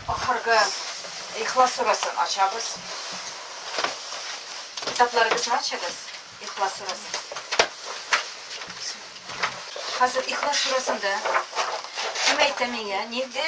Ахыргы ихлас сурасын ачабыз. Китапларыгызны ачыгыз, ихлас сурасын. Хәзер ихлас сурасында кем әйтә миңа, нинди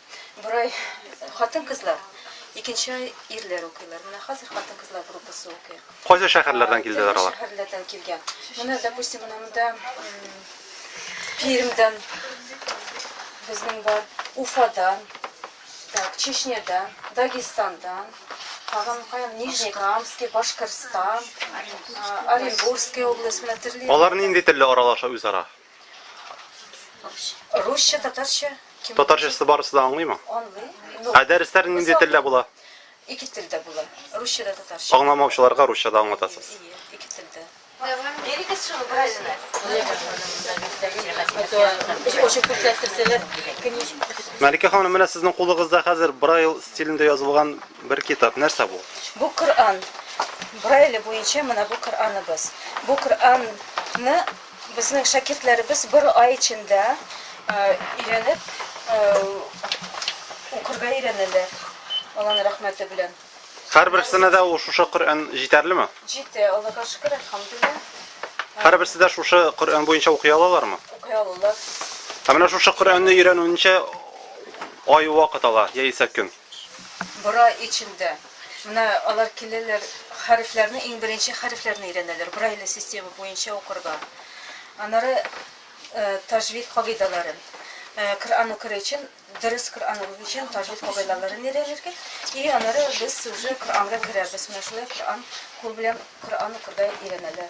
Бер ай хатын-кызлар, икенче ай ирләр укыйлар. Менә хәзер хатын-кызлар группасы укый. Кайсы шәһәрләрдән килделәр алар? Шәһәрләрдән килгән. Менә, допустим, менә монда Пермьдән безнең бар, Уфадан, так, Чечнядан, Дагестандан, тагын каян Нижнекамский, Башкортстан, Оренбургская область, менә төрле. Алар нинди телдә аралаша үзара? Русча, татарча. кем- Татарчасы барысы да аңлыймы? Аңлый. Ну, Ә дәресләр нинди Уза- телдә була? Ике телдә була. Русча да татарча. Аңламаучыларга русчада аңлатасыз. Ие, Ике телдә. Берегез шуны беразына. Уже күрсәттерсәләр, книжка. Мәликә ханым, менә сезнең кулыгызда хәзер Брайл стилендә язылган бер китап. Нәрсә бу? Бу Коръән. Брайле буенча менә бу Коръәныбыз. Бу Коръәнны Безнең шәкертләребез бер ай эчендә өйрәнеп укырга өйрәнәләр, Алланың рәхмәте белән. Һәрберсенә дә ул шушы Коръән җитәрлеме? Җитә, Аллага шөкер, әлхәмдулилла. Һәрберсе дә шушы Коръән буенча укый алалармы? Укый алалар. Ә менә шушы Коръәнне өйрәнүенчә ай вакыт ала, яисә көн. Бра эчендә менә алар киләләр, хәрефләрне, иң беренче хәрефләрне өйрәнәләр, брайле система буенча укырга. Аннары таҗвид кагыйдәләрен, Коръән укыр өчен, дөрес Коръән укыр өчен таҗвид кагыйдәләрен өйрәнергә. И аннары без уже Коръәнгә керәбез. Менә шулай Коръән, кул белән Коръән укырга өйрәнәләр.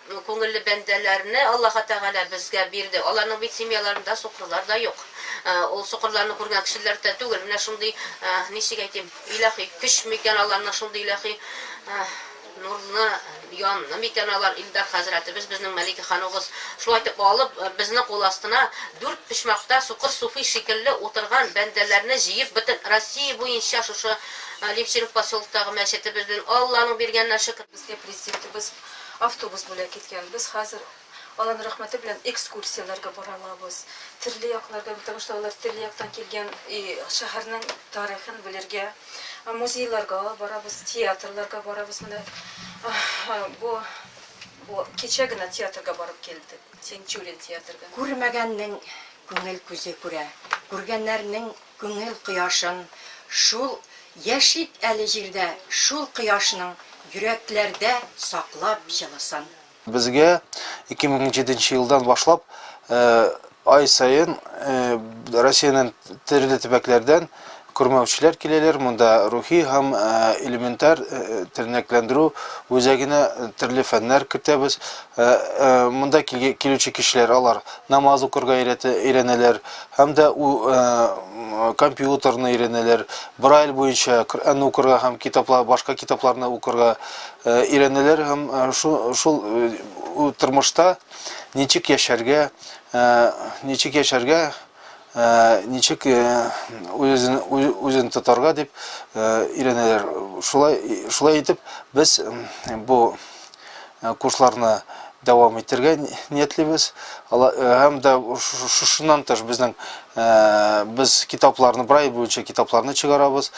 Күңелле бәндәләрне Аллаһы Тәгалә безгә бирде. Аларның бит семьяларында сукырлар да юк. Ул сукырларны күргән кешеләр дә түгел. Менә шундый, ничек әйтим, илаһи көч микән аларның, шундый илаһи нурлы янмы микән алар, Илдар хәзрәтебез, безнең Мәликә ханугыз шулай итеп алып, безнең кул астына дүрт почмакта сукыр суфи шикелле утырган бәндәләрне җыеп, бөтен Россия буенча шушы Левченко поселоктагы мәчетебездән Алланың биргәненә шөкер, безгә Президентыбыз Автобус бүләк иткән. Без хәзер Алланың рәхмәте белән экскурсияләргә бара алабыз. Төрле якларга, потому что алар төрле яктан килгән и шәһәрнең тарихын белергә. Музейларга алып барабыз, театрларга барабыз. Менә бу бу кичә генә театрга барып килдек. Тинчурин театрга. Күрмәгәннең күңел күзе күрә, күргәннәрнең Күңел кояшын шул Яшик әле җирдә Шул кояшның йөрәкләрдә Саклап җылысын. Безгә 2007 нче елдан башлап ай саен Россиянең төрле төбәкләрдән күрмәүчеләр киләләр, монда рухи һәм элементар тернәкләндерү үзәгенә төрле фәннәр кертәбез. Монда килүче кешеләр, алар намаз укырга өйрәнәләр, һәм дә у компьютерны өйрәнәләр, Брайль буенча Коръәнне укырга һәм китаплар, башка китапларны укырга өйрәнәләр һәм шул тормышта ничек яшәргә, ничек яшәргә, ничек үзен, үзен тотарга дип өйрәнәләр. Шулай, шулай итеп, без бу курсларны дәвам итәргә ниятлибез. Һәм дә шушыннан тыш безнең без китапларны брай буенча китапларны чыгарабыз.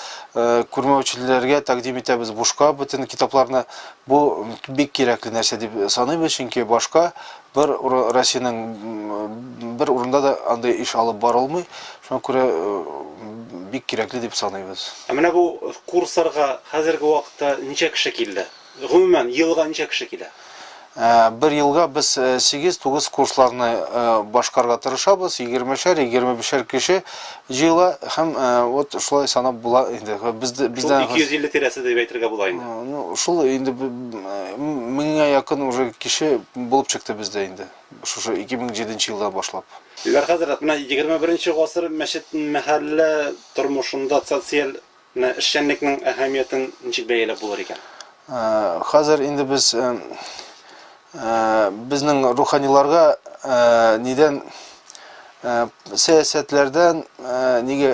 Күрмәүчеләргә тәкъдим итәбез бушка бөтен китапларны. Бу бик кирәкле нәрсә дип саныйбыз, чөнки башка бер Россиянең бер урында да андый эш алып барылмый. Шуңа күрә бик кирәкле дип саныйбыз. Ә менә бу курсларга хәзерге вакытта ничә кеше килде? Гомумән, елга ничә кеше килә? Бер елга без сигез-тугыз курсларны башкарырга тырышабыз, егермешәр, егерме бишәр кеше җыела һәм вот шулай санап була инде. Бездә, бездә. Шул 250 тирәсе дип әйтергә була инде. Ну, шул инде меңгә якын уже кеше булып чыкты бездә инде, шушы 2007 нче елдан башлап. Дилбәр хәзрәт, менә егерме беренче гасыр мәчет-мәхәллә тормышында социаль Менә эшчәнлекнең әһәмиятен ничек бәяләп булыр икән? Хәзер инде без безнең руханиларга нидән сәясәтләрдән нигә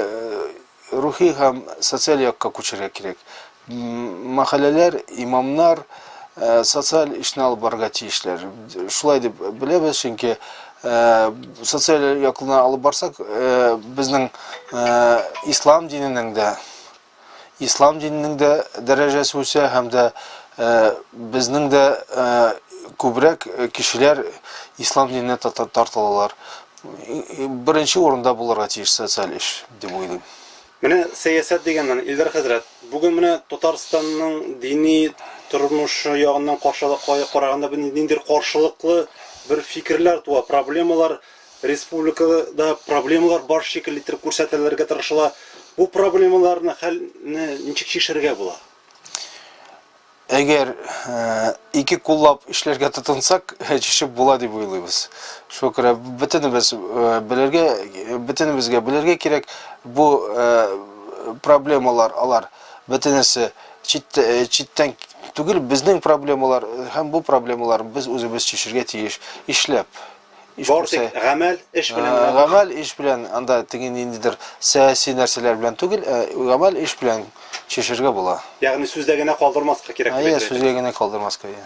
рухи һәм социаль якка күчәргә кирәк. Мәхәлләләр, имамнар социаль эшне алып барырга тиешләр. Шулай дип беләбез, чөнки Э, социаль яклына алып барсак э, безнең э, ислам диненең дә ислам диненең дә дәрәҗәсе үсә һәм дә безнең дә күбрәк кешеләр ислам диненә тартылалар беренче урында булырга тиеш социаль эш дип уйлыйм Менә сәясәт дигәннән, Илдар хәзрәт, бүген менә Татарстанның дини тормышы ягыннан караганда бер ниндидер каршылыклы бер фикерләр туа, проблемалар, республикада проблемалар бар шикелле иттереп күрсәтелергә тырышыла. Бу проблемаларны хәлне ничек чишергә була? Әгәр ике куллап эшләргә тотынсак, чишеп була дип уйлыйбыз. Шуңа күрә бөтенебез белергә, бөтенебезгә белергә кирәк, бу проблемалар алар бөтенесе читтән түгел, безнең проблемалар һәм бу проблемалар без үзебез чишергә тиеш, ишләп. Иш Бор тик күрсә. гамәл, эш белән Ә, генә. Гамәл эш белән, анда теге ниндидер сәяси нәрсәләр белән түгел, ә гамәл эш белән чишергә була. Ягъни сүздә генә калдырмаска кирәк дип Әйе, әйтергә сүзгә генә калдырмаска. әйе.